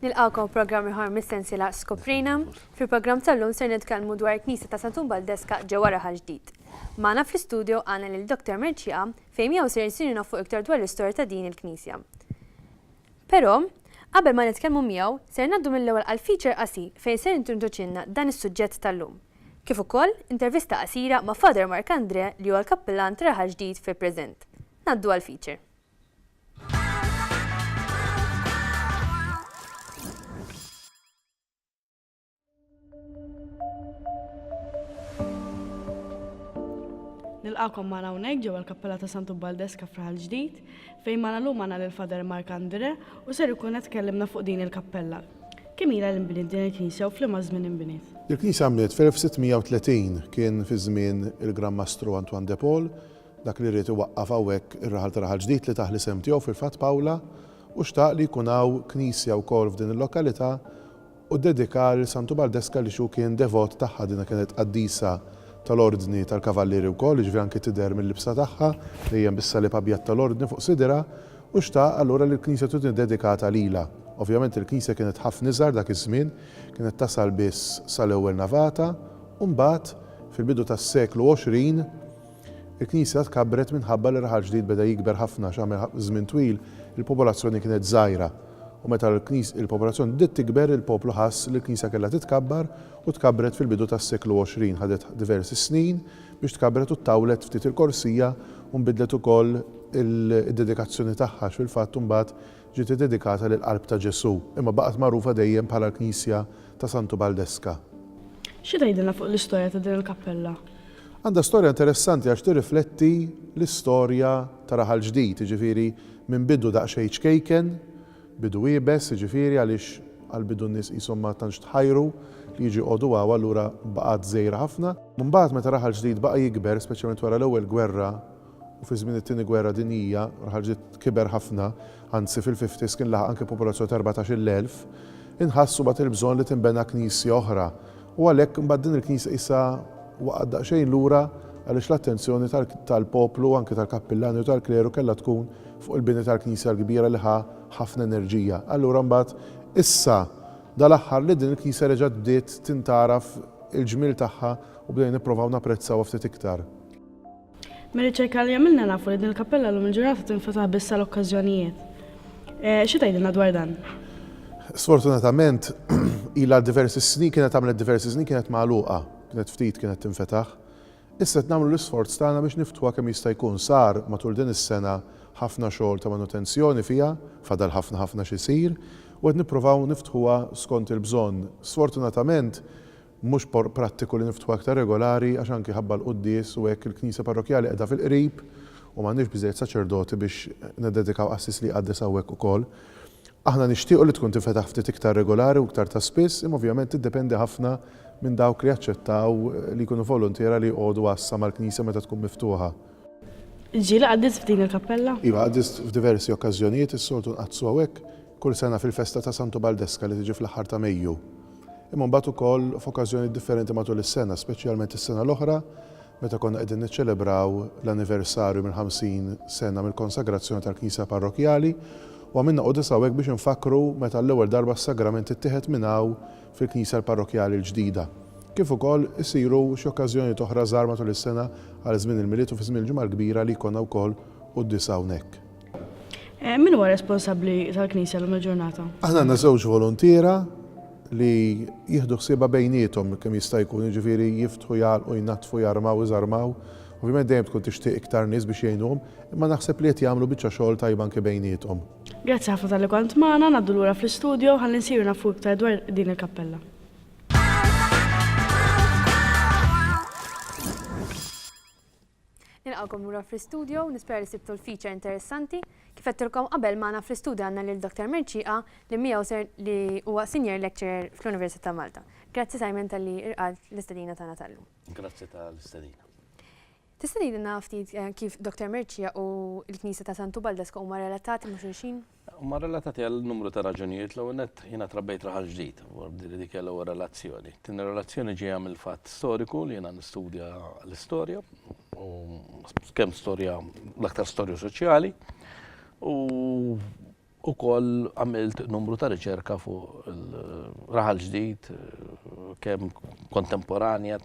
Nilqgħukom f'programm ieħor mis-sensiela Skoprina. Fil-programm tal-lum ser nitkellmu dwar il-Knisja ta' Santun Baldesca ġewwa Raħal Ġdid. Magħna fl-istudjo għandna lil Doctor Mercieqa fejn miegħu ser insir nafu iktar dwar l-istorja ta' din il-knisja. Pero, qabel ma nitkellmu miegħu, ser ngħaddu mill-ewwel għal feature qasir fejn ser jintroduċilna dan is-suġġett tal-lum. Kif ukoll, intervista qasira ma' Father Mark Andrè li huwa l-Kappillan tar-Raħal Ġdid fil-preżent. Ngħaddu għall-feature. Nilqakom ma' hawnhekk ġewwa l-Kappella ta' Santu Baldeska f'Raħal Ġdid, fejn ma' nagħlum għandna lil Fader Mark Andre u ser ikun qed tkellimna fuq din il-kappella. Kemm ilha li nbniet din il-knisja u f'liema żmien inbniet? Il-knisja nbniet fl-1630, kien fi żmien il-Gran Mastru Antoine de Paul dak li ried iwaqqaf hawnhekk ir-raħal ta' Raħal Ġdid li tah l-isem tiegħu fil-fatt Pawla u xtaq li jkun hawn knisja wkoll f'din il-lokalità u ddedikaha lil Santu Baldesca li xu kien devot tagħha. Dinha kienet qaddisa tal-Ordni tal-Kavallieri wkoll, jiġifieri anki tidher mil-libsa tagħha, dejjem bis-salib abjad tal-Ordni fuq sidirha, u xtaq allura li l-knisja tkun iddedikata lilha. Ovvjament il-knisja kienet ħafna iżgħar dak iż-żmien, kienet tasal biss sal-ewwel navata, u mbagħad, fil-bidu tas-seklu għoxrin, Il-Knisja tkabbret minħabba li r-raħal ġdid beda jikber ħafna għax għamel żmien twil il-popolazzjoni kienet żgħira. U meta l-popolazzjoni bdiet tikber, il-poplu ħass li l-Knisja kellha titkabbar u tkabbret fil-bidu tas-seklu 20. Ħadet diversi snin biex tkabbret u ttawlet ftit il-korsija u nbidlet ukoll id-dedikazzjoni tagħha għax fil-fatt imbagħad Ġiet iddedikata lill-Qalb ta' Ġesù, imma baqgħet magħrufa dejjem bħala l-Knisja ta' Santu Baldeska. Xi tgħidilna fuq l-istorja ta' din il-kappella? Għandha storja interessanti għax tirrifletti l-istorja ta' Raħal Ġdid, jiġifieri minn bidu daqsxejn ċkejken, bidu iebes, jiġifieri għaliex għall-bidu n-nies qishom ma tantx tħajru li jiġu jqogħdu hawn, allura baqgħet żgħira ħafna. Imbagħad meta Raħal Ġdid baqa' jikber, speċjalment wara l-Ewwel Gwerra u fi żmien it-Tieni Gwerra Dinjija ħarġet kiber ħafna, anzi fil-fifties kien laħaq anki popolazzjoni ta' erbatax-il elf, inħass imbagħad il-bżonn li tinbena knisja oħra u għalhekk imbagħad din il-knisja qisha waqgħet daqsxejn lura għaliex l-attenzjoni tal-poplu u anki tal-kappillani u tal-kleru kellha tkun fuq il-bini tal-knisja l-kbira li ħa ħafna enerġija. Allura imbagħad issa dal-aħħar li din il-knisja reġgħet bdiet tintgħaraf il-ġmiel tagħha u bdejna nipprovaw napprezzawha ftit iktar. Mir-riċerka li għamilna nafu li din il-kappella llum il-ġurnata tinfetaħ biss għal okkażjonijiet. Eh, xi tgħidilna dwar dan? Sfortunatament, ila diversi snin kienet għamlet diversi snin kienet magħluqa, kienet ftit kienet tinfetaħ. Issa qed nagħmlu l-isforz tagħna biex niftuha kemm jista' jkun sar matul din is-sena ħafna xogħol ta' manutenzjoni fiha, fadal ħafna ħafna xi jsir, u qed nipprovaw niftħuha skont il-bżonn. Sfortunatament, Mhux prattiku li niftħu aktar regolari għax anki ħabba l-quddies u hekk il-knisja parrokkjali qiegħda fil-qrib u m'għandniex biżżejjed saċerdoti biex niddedikaw qassis li jqaddes hawnhekk ukoll. Aħna nixtiequ li tkun tinfetaħ ftit iktar regolari u iktar ta' spiss imma ovvjament tiddependi ħafna minn dawk li jaċċettaw li jkunu voluntiera li jqogħdu għassa mal-knisja meta tkun miftuħa. Ġieli qaddist f'din il-kappella? Iva, qaddist f'diversi okkażjonijiet, is-soltu nqaddsu hawnhekk kull sena fil-festa ta' Santu Baldesca li tiġi fl-aħħar ta' Mejju, imma mbagħad ukoll f'okkażjonijiet differenti matul is-sena, speċjalment is-sena l-oħra meta konna qegħdin niċċelebraw l-anniversarju mill-50 sena mill-konsagrazzjoni tal-Knisja Parrokkjali u għamilna quddiesa hawnhekk biex infakkru meta għall-ewwel darba s-Sagrament ittieħed minn hawn fil-Knisja Parrokkjali l-ġdida. Kif ukoll isiru xi okkażjonijiet oħra żgħar matul is-sena għal żmien il-Milied u fi żmien il-Ġimgħa l-Kbira li jkollna wkoll quddiesa hawnhekk. Eh, min huwa responsabbli tal-Knisja l-lum il-ġurnata? Aħna għandna żewġ volontiera li jieħdu ħsieba bejnietom kemm jista' jkun, jiġifieri jiftħu jgħalqu jnattfu jarmaw iżarmaw. Ovvjament dejjem tkun tixtieq iktar nies biex jgħinuhom, imma naħseb li qed jagħmlu biċċa xogħol tajba anke bejnietom. Grazzi ħafna tal-li kont magħna, ngħaddu lura fl-istudio ħalli nsiru nafu iktar dwar din il-kappella. Nilqgħukom lura fl-istudio, nispera li sibtu l-feature interessanti. Kif għedtilkom qabel, magħna fl-istudio għandna lil Dottor Mercieqa li miegħu ser li huwa Senior Lecturer fl-Università ta' Malta. Grazzi Simon talli irqadt l-istedina tagħna tal-lum. Grazzi tal-istedina. Tista' tgħidilna ftit kif Dottor Mercieqa u l-Knisja ta' Sant'Ubaldo Scopa huma relatati ma' xulxin? Huma relatati għal numru ta' raġunijiet. L-ewwel nett, jiena trabbejt raħal ġdid, b'ordi li dik hija l-ewwel relazzjoni. T-tieni relazzjoni ġejja mill-fatt storiku li jiena nistudja l-istorja, u kemm storja, l-aktar storja soċjali, u wkoll għamilt numru ta' riċerka fuq raħal ġdid, kemm kontemporanja,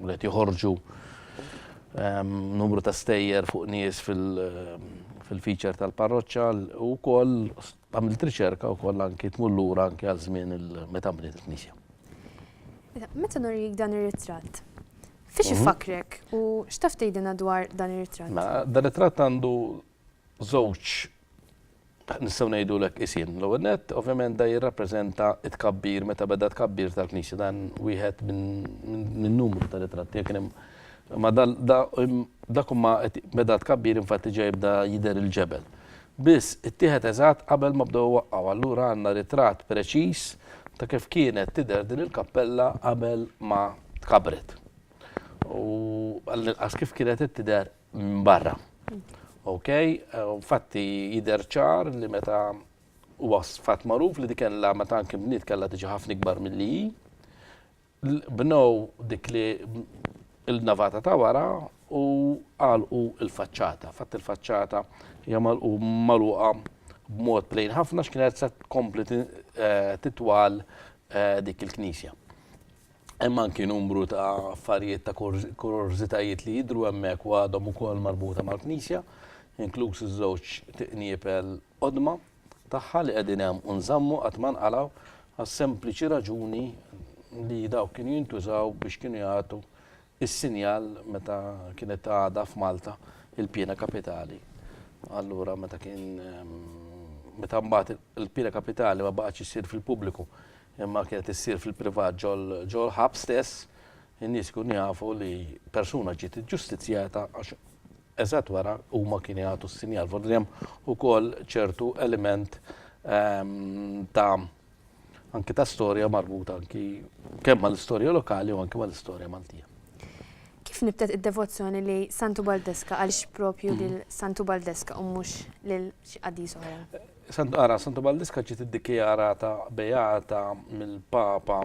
li qed joħorġu, Hemm numru ta' stejjer fuq nies fil-feature tal-parroċċa u wkoll għamilt riċerka wkoll anki tmur lura anki għal żmien meta nbniet il-knisja. Meta nurik dan ir-ritratt, fiex ifakkrek u x'taf tgħidilna dwar dan ir-ritratt? Dan ir-ritratt għandu żewġ, nistgħu ngħidulek qisien. L-ewwel nett, ovvjament dan jirrappreżenta t-tkabbir, meta beda t-tkabbir tal-Knisja. Dan wieħed minn numru ta' ritratti. Jekk kien hemm, imma dak huma qed beda t-tkabbir infatti ġa jibda jidher il-ġebel. Biss, ittieħed eżatt qabel ma bdew iwaqqgħu. Allura għandna ritratt preċiż ta' kif kienet tidher din il-kappella qabel ma tkabbret. U għall-inqas kif kienet qed tidher minn barra. Ok, fatti jider ċar li meta u fatt magħruf li dikella meta anke bniet kellha tiġi ħafna ikbar milli hi. Bnow dik li il-navata ta' wara u għalqu il-faċċata. Fatt il-faċċata hija magħluqa b'mod plejn ħafna x'kienet se tkompli eh, titwal eh, dik il-knisja. Hemm anki numru ta' affarijiet ta' kurorżitajiet li jidhru hemmhekk u għadhom ukoll marbuta mal-knisja, inkluż iż-żewġ tiqniepel qodma tagħha li qegħdin hemm u nżammu qatt ma nqalgħu għas-sempliċi raġuni li dawk kienu jintużaw biex kienu jagħtu Is-sinjal meta kienet għadha f'Malta il-piena kapitali. Allura meta kien meta mbagħad il-piena kapitali ma baqgħetx issir fil-pubbliku imma kienet issir fil-privat ġol-ħabs stess, in-nies ikunu jafu li persuna ġiet iġġustizzjata għax eżatt wara huma kienu jagħtu s-sinjal. Forsi hemm ukoll ċertu element ta' anki ta' storja marbuta anki kemm mal-istorja lokali u anki mal-istorja Maltija. Kif nibtet id-devozzjoni li Santu Baldeska għaliex propju mm. lil Santu Baldeska u mhux lil xi qaddis oħra? Santu ara Santu Baldeska ġiet iddikjarata beata mill-Papa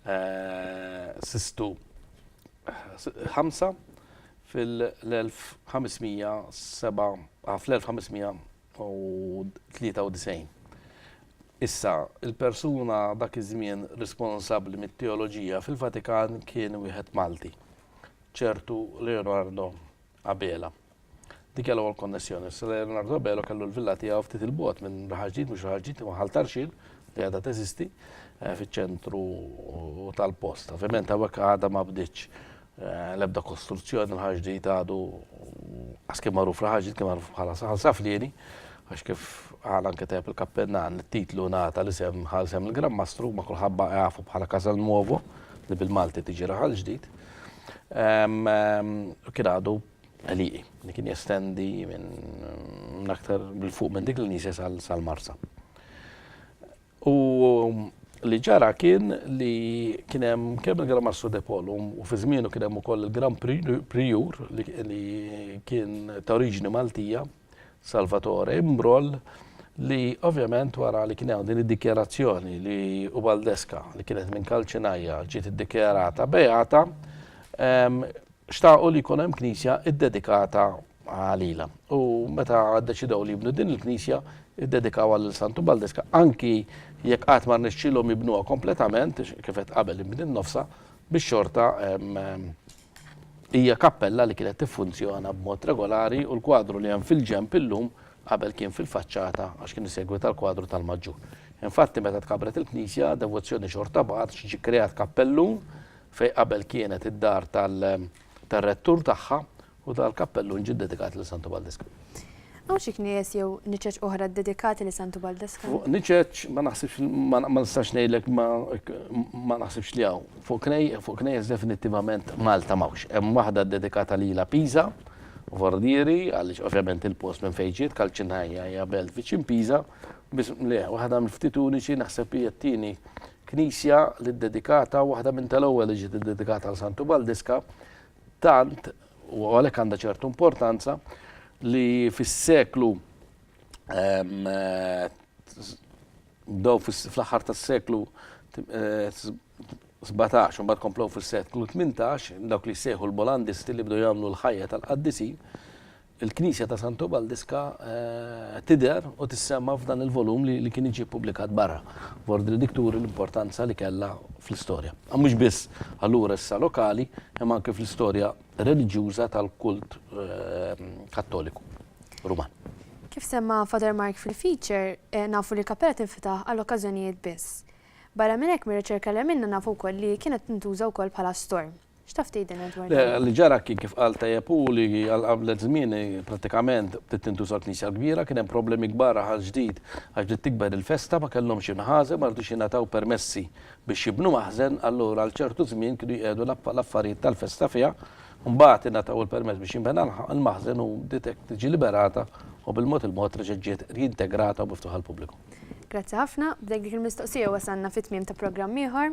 eh, Sistu ħamsa fil-1507 ah, fl-1500 93 Issa, il-persuna dak iż-żmien responsabbli mit-teoloġija fil-Vatikan kien wieħed Malti, ċertu Leonardo Abela. Dik hija l-ewwel konnessjoni. Issa Leonardo Abela kellu l-villa tiegħu ftit il-bogħod minn Raħal Ġdid, mhux Raħal Ġdid, imma Ħal Tarxien, li għadha teżisti, eh, fiċ-ċentru tal-post. Ovvjament hawnhekk għadha ma bdietx L-ebda kostruzzjoni tal-ħaġdit għadu għas kien magħruf l-ħaġdit kien magħruf bħala saħal saflieni għax kif għal anke tajb il-kappennan it-titlu nata li sem ħal sem il-Gran Mastru ma kulħabba għafu bħala Casal Nuovo li bil-Malti tiġi raħal ġdid. Kien għadu għaliqi li kien jestendi minn aktar bil-fuq minn dik l-nisa sal-marsa. U li ġara kien li kien hemm kemm il-Gran Mastru De Pol u fi żmienu kien hemm ukoll il-Gran Prijur li kien ta' oriġini Maltija, Salvatore Imbroll, li ovvjament wara li kien hemm din id-dikjarazzjoni li Ubaldeska li kienet minn Kalċinajja ġiet iddikjarata beata, xtaqu li jkun hemm knisja ddedikata Qal ilha. U meta ddeċidew li jibnu din il-knisja, iddedikawha lil Santu Baldeska, anki jekk qatt ma rnexxielhom jibnuha kompletament, kif għedt qabel inbniet nofsha, biex xorta hija kappella li kienet tiffunzjona b'mod regolari u l-kwadru li hemm fil-ġenb illum qabel kien fil-faċċata għax kien isegwi tal-kwadru tal-Maġġu. Infatti meta tkabret il-knisja, devozzjoni xorta baqgħet għax ġie kreat kappellun fejn qabel kienet id-dar tar-rettur tagħha U ta' l-kappellun ġie ddedikat lil Santu Baldeskan. Hawn xi knejjes jew niċeċ oħra ddedikati lil Santu Baldeskan? Fuq niċeċ ma naħsibx ma nistax ngħidlek ma naħsibx li hawn. Fuq knejjes definittivament Malta m'hawnx. Hemm waħda ddedikata lilha Pisa, Forlieri, għaliex ovvjament il-post minn fejn ġiet, Calcinaya hija belt viċin Pisa, biss le, waħda mill-ftit uniċi naħseb hija t-tieni knisja li ddedikata, waħda minn tal-ewwel li ġiet iddedikata għal Santu Baldeska, Tant, u għalhekk għandha ċertu importanza, li fis-seklu bdew fl-aħħar tas-seklu 17 u mbagħad komplew fis-seklu 18 dawk li jsejħu l-Bolandisti li bdew jagħmlu l-ħajja tal-qaddisin Il-Knisja ta' Santu Baldiska tidher u tissemma f'dan il-volum li kien jiġi ppubblikat barra, f'ordni dik turi l-importanza li kellha fl-istorja. Mhux biss allura issa lokali, imma anke fl-istorja reliġjuża tal-kult Kattoliku Ruman. Kif semma Father Mark fil-feature, nafu li l-kappella tinfetaħ għal okkażjonijiet biss. Barra minn hekk mir-riċerka li għamilna nafu wkoll li kienet tintuża wkoll bħala store. X'taf tgħidilna dwar dan? Le, li ġara kien kif qal tajjeb hu li għal qablet żmieni prattikament bdiet tintuża l-knisja l-kbira, kien hemm problemi kbar Aħal Ġdid għax bdiet tikber il-festa, ma kellhomx inħażen, ma ridux jingħataw permessi biex jibnu maħżen, allura għal ċertu żmien kienu jqiegħdu l-affarijiet tal-festa fiha, imbagħad ingħataw il-permess biex jinbena l-maħżen u bdiet hekk tiġi liberata u bil-mod il-mod reġgħet ġiet riintegrata u miftuħa għall-pubbliku. Grazzi ħafna, b'dek dik il-mistoqsija wasalna fit-tmiem ta' programm ieħor.